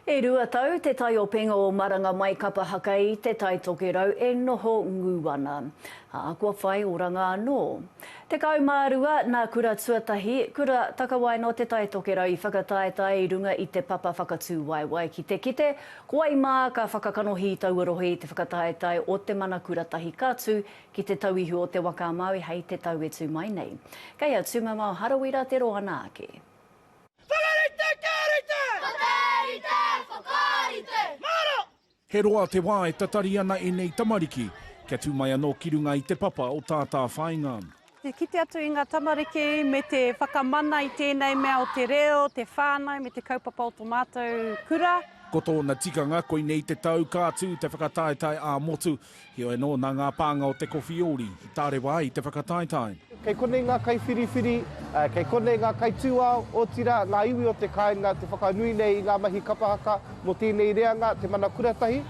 E rua tau te taiopenga o Maranga Mai Kapa Haka i Te Tai Tokerau e noho ngū ana, ā, kua whai oranga anō. Tekau mā rua, nā Kura Tuatahi, Kura Takawaena o Te Tai Tokerau i whakataetae i runga i te papa whakatūwaewae ki te kite, ko wai mā ka whakakanohi taua rohe i te whakataetae o te mana kura tahi ka tū ki te tauihu o Te Waka-a-Māui hei te tau e tū mai nei. Kei a Tūmamao Harawira te roanga ake. Whakarite, karite! Whakarite, whakarite! Maro! He roa te wā e tatari ana ēnei tamariki kia tū mai anō ki runga i te papa o tā Tāwhāinga. Te kite atu i ngā tamariki me te whakamana i tēnei mea o te reo, te whānau me te kaupapa o tō mātou kura. Ko tōna tikanga, koinei te tau ka tū te whakataetae ā-motu. Heoi anō, nā ngā pānga o Te Kowhiori i tārewa ai te whakataetae. Kei konei ngā kaiwhiriwhiri, kei konei ngā kaitūao, otirā, ngā iwi o te kāinga te whakanui nei i ngā mahi kapa haka mō tēnei reanga, te mana kura tahi.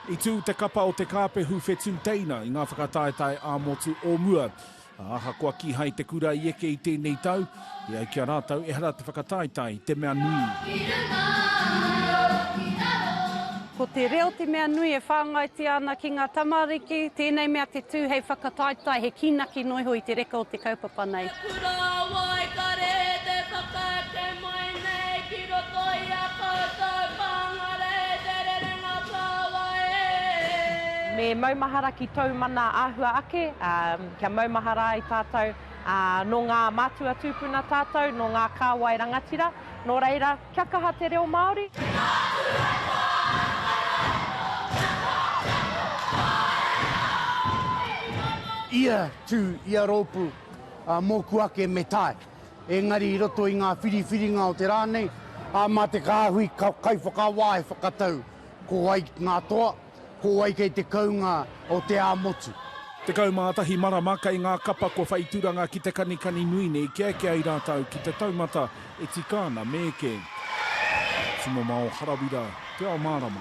I tū te kapa o Te Kāpehu Whetū Teina i ngā whakataetae ā-motu o mua. Ā, ahakoa kīhai te kura i eke i tēnei tau, e ai ki a rātou ehara te whakataetae te mea nui. Ko te reo te mea nui e whāngaitia ana ki ngā tamariki, tēnei mea te tū hei whakataetae, he kīnaki noa iho i te reka o te kaupapa nei. Mai nei ki roto i a koutou pāngarei te rerenga kāwai e. Me maumahara ki tōu mana āhua ake, ā, kia maumahara ai tātou, ā, nō ngā mātua tūpuna tātou, nō ngā kāwai rangatira, nō reira, kia kaha te reo Māori. Te Mātuhei Whānau Kei Waikato Kia Tākiko Whāinga Ō Iwi Mano! Ia tū, ia rōpū, ā, mōku ake me tae. Engari i roto i ngā whiriwhiringa o te rā nei, ā, mā te kāhui kaiwhakawā e whakatau ko wai ngā toa, ko wai kei te kounga o te ā-motu. Tekau mā tahi marama kei ngā kapa kua whai turanga ki te kanikani nui nei kia eke ai rātou ki te taumata e tika ana me eke. Tumamao Harawira, Te Ao Mārama.